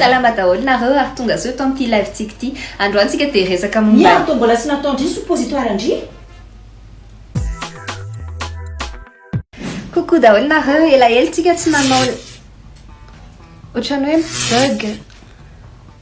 Salama daholo nareo ary tonga soa eto amin'ity live tsika ity. Androany tsika dia resaka momba. Ny antony mbola tsy natao ndry suppositoire ndry. Coucou daholo nareo, elaela tsika tsy nanao otrany hoe bug.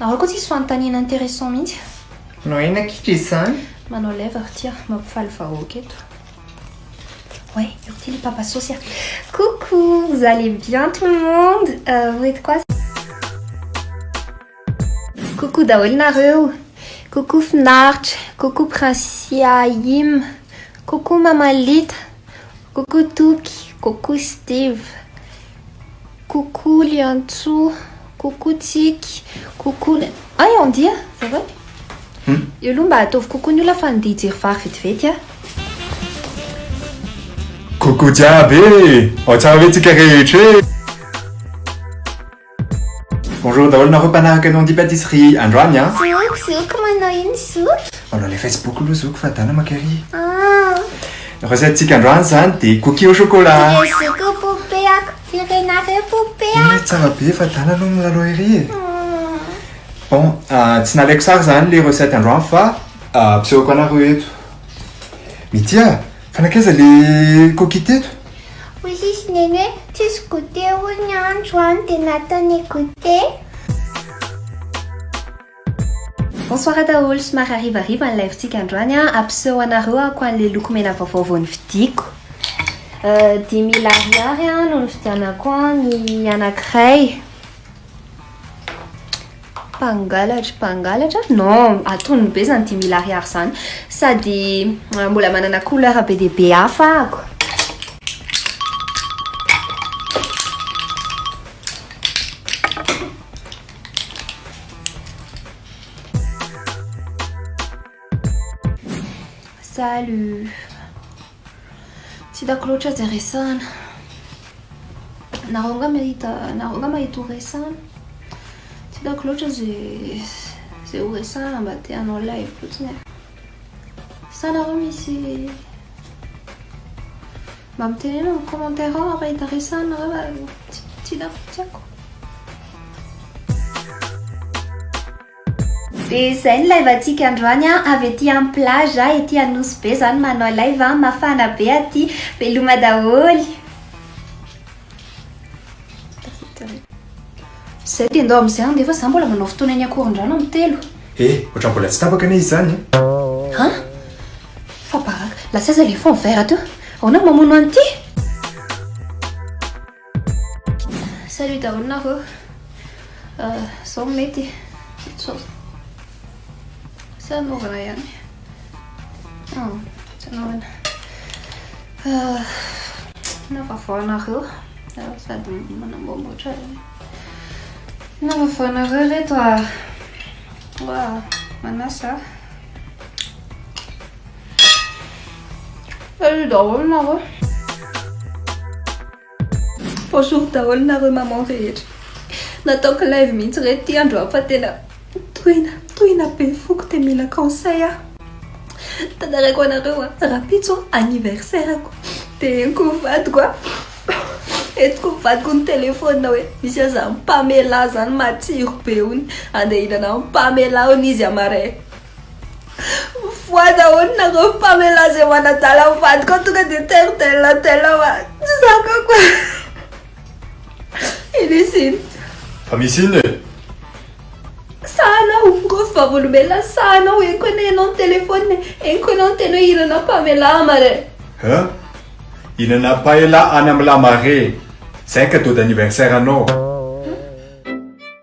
Nareo koa tsisy fanontaniana intéressant mihitsy. Manao aina kitra izany. Manao lèvre ity a, mampifaly vahoaka eto. Ouais, urti le papa sauce a. Coucou, vous allez bien tout le monde? Euh, vous êtes quoi? Coucou daholo nareo. Coucou finaritra, coucou prince Aim, coucou maman Lita, coucou Toky, coucou Steve. Coucou Liantso, coucou Tsiky, coucou ny Ay on dia za va Hum. Eo aloha mba ataovy coucou ny olona fa andeha hijery vary vetivety aho. Coucou jiaby e! Ao tsara ve tsika rehetra e! Bonjour daholo nareo mpanaraka ny on dit pâtisserie androany a! Zoky, zoky manao ino zoky? Manao ilay facebook aloha zoky fa dana maka ery. Ah. Rasaintsika androany zany de cookie au chocolat. Merci ko poupée ako firy nareo poupée ako. Ih tsara be fa dala aloha milalao ery e. Bon tsy nalaiko sary zany le recette androany fa ampisehoako anareo eto. Mitia fa nankaiza le cookie teto? Hoy sisy neny hoe tsisy goûter hono androany de nataony goûter. Bonsoir daholo, somary harivariva ny live tsika androany an, ampiseho anareo ako anle loko mena vaovao vao nividiako. Dimy mille ariary an no nividianako an ny anakiray. Mpangalatra, mpangalatra? Non, atonony be zany dimy mille ariary zany. Sady mbola manana couleur be dia be hafa ako. Salut Tsy hitako loatra izay resahana Nareo nga mahita Nareo nga mahita ho resahana Tsy hitako loatra izay Izay ho resahana mba te hanao live fotsiny e Sa nareo misy Mba mitenena amin'ny commentaire ao raha hita resahana reo fa tsy hitako tsy haiko. Dia izay ny live antsika androany an, avy ety amin'ny plage a, ety Anosibe zany manao live an, mafana be aty, veloma daholo. Zay dia ndao amin'izay ange fa za mbola manao fotoana eny Ankorondrano amin'ny telo. Eh, ohatran'ny mbola tsy tapaka anie izy izany eh! An! Fa baraka, lasa aiza ilay fond vert teo? Ahoana no mamono an'ity? Salut daholo nareo. Zao no mety. Sao. Sa anaovana ihany? Oh, tsy anaovana. Na vavoanareo sady manamboamboatra na vavoanareo reto a wa manasa alo daholo nareo Bonjour daholo nareo maman rehetra nataoko live mihitsy re ty andro fa tena tohina tohina be foko te mila conseil aho tantaraiko anareo a rapitso anniversaire ko de enko vadiko a entiko vadiko ny telefona hoe misy aza mpamela zany matsiro be ony andeha hinana mpamela ony izy amare Mifoha daholo nareo mpamela izay manadala ny vadiko aho tonga dia tel tel tel fa tsy zakako e. Ino izy iny? Fa misy inona e? Sahanao, koa fa vavolombelona sahanao, eny koa ne ianao ny telefona e, eny koa ianao ny teny hoe hinana mpamela amare. Hein? Hinana mpamela any amin'ny lamare, zay ka dot d'anniversaire anao.